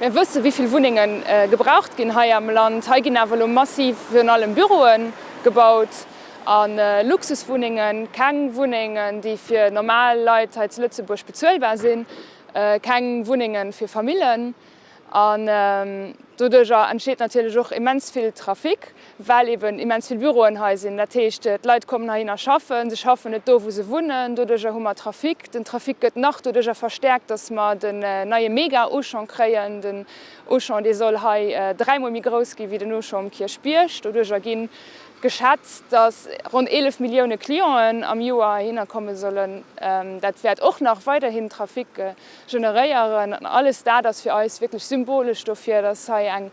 Mir wësse wéi vill Wunnenge gebraucht ginn hei am Land. Hei ginn awer elo massiv virun allem Büroe gebaut a Luxuswunnengen, keng Wunnengen déi fir normal Leit hei zu Lëtzebuerg bezuelbar sinn, keng Wunnenge fir Famillen. An doduerjer entsteet natierlech och immens vill Trafic. well eben immens vill Büroen hei sinn, dat heescht d'Leit kommen heihinner schaffen, se schaffen net do wou se wunnen, doduercher hu mer Trafic, den Trafic gëtt nach doduercher verstärkt, datt mer den neie Mega-Auchan kréien, den Auchan dee soll hei dräimol méi grouss gi wéi den Auchan um Kierchbierg, doduercher gi geschätzt, datt ronn 11 Millioune Clienten am Joer heihinner komme sollen, dat wäert och nach weiderhin Trafic generéieren an alles dat ass fir eis wierklech symbolesch dofir, datt hei eng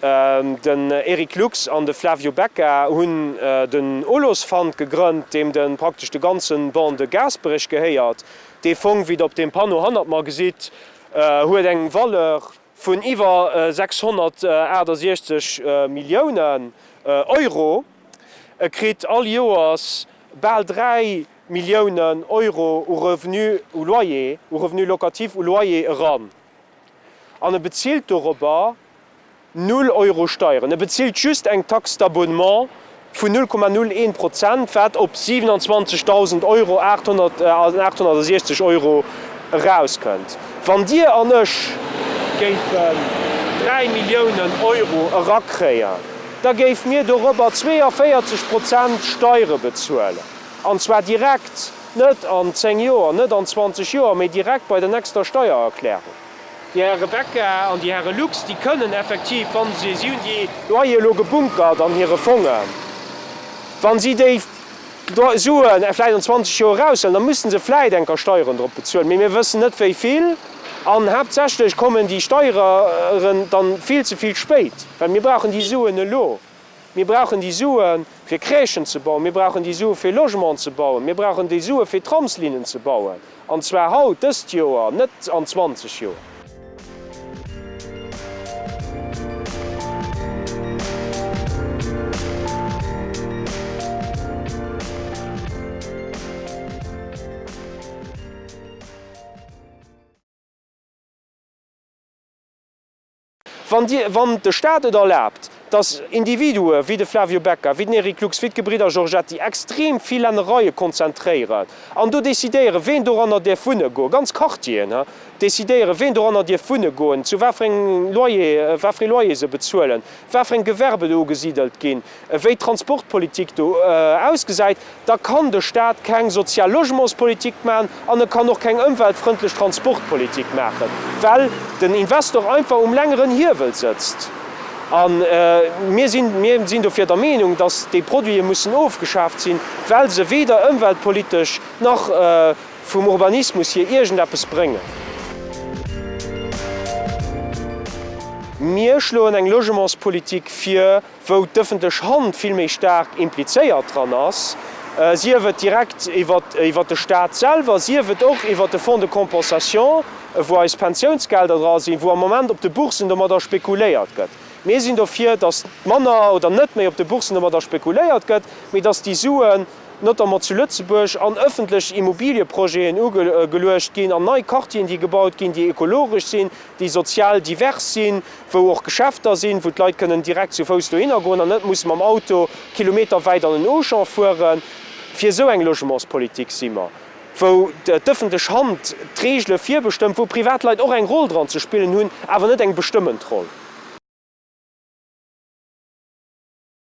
Den Eric Lux an de Flavio Becca hunn den Olosfund gegrënnt, deem de praktesch de ganze Ban de Gaasperech gehéiert. Dee Fong, wéi der op deem Panneau hannert mer gesitt, huet eng Valeur vun iwwer 668 Milliounen Euro. E kritt all Joers bal 3 Milliounen Euro u Revenu u Loyer, u Revenu locatif u Loyer eran an e bezilt dorobber, Null Euro Steieren. E bezilt just eng Taxe d'abonnement vun 0,01 Prozent, wat op 27.000 Euro, 868 Euro, erauskënnt. Wann Dir an ech géifen 3 Milliounen Euro erakréien, da géife mir dorobber 42 Prozent Steiere bezuelen. An zwar direkt, net an 10 Joer, net an 20 Joer, mee direkt bei der nächster Steiererklärung. Déi Här Rebecca an déi Häre Lux, déi kënnen effektiv, wa se, si hunn déi. Loyer elo gebunkert an hire Fongen, wa si déi Sue vläicht an 20 Joer eraushëllen, da musse se vläicht enker Steieren drop bezuelen, mee mir wëssen net wéi vill. An haaptsächlech kommen déi Steieren dann vill ze vill spéit, well mir brauchen déi Suen elo. Mir brauchen déi Sue fir Crèchen ze bauen, mir brauchen déi Sue fir Logement ze bauen, mir brauchen déi Sue fir Tramslinnen ze bauen, an zwar haut, dëst Joer, net an 20 Joer. Wann Dir, wann de Staat et erlaabt, dass Individue wéi de Flavio Becca, wéi den Eric Lux, wéi d'Gebridder Giorgetti extrem vill Lännereie konzentréieren an do decidéieren, ween doranner däerf wunne goen, ganz Quartieren, he, decidéieren, ween doranner dierf wunne goen, zu wat fir engem Loyer, wat fir ee Loyer se bezuelen, wat fir eng Gewerben do ugesidelt ginn, ewéi d'Transportpolitik do ausgesäit, da kann de Staat keng sozial Logementspolitik maachen an e kann och keng ëmweltfrëndlech Transportpolitik maachen, well den Investor einfach um längeren Hiewel sëtzt. A mir sinn, mir sinn dofir der Meenung, datt déi Produite mussen ofgeschaaft sinn, well se weder ëmweltpolitesch nach vum Urbanismus hier iergendeppes bréngen. Mir schloen eng Logementspolitik vir, wou d'ëffentlech Hand vill méi staark implizéiert dran ass, sief et direkt iwwer de Stat selwer, sief et och iwwer de Fonds de compensation, wou eis Pensiounsgelder dra sinn, wou am Moment op de Bourssen domadder spekuléiert gëtt. Mir sinn dofir, datt manner oder net méi op de Bourssen domadder spekuléiert gëtt, mee datt déi Suen notamment zu Lëtzebuerg an ëffentlech Immobilieprojeten ugeluecht ginn, an nei Quartieren, déi gebaut ginn, déi ekologesch sinn, déi sozial divers sinn, wou och Geschäfter sinn, wou d'Leit kënnen direkt zu Fouss dohinner goen an net musse mam Auto kilometerwäit an en Auchan fueren. Fir esou eng Logementspolitik si mer, wou d'ëffentlech Hand d'Reegele virbestëmmt, wou privat Leit och eng Roll dran ze spillen hunn, awer net eng bestëmmend Roll.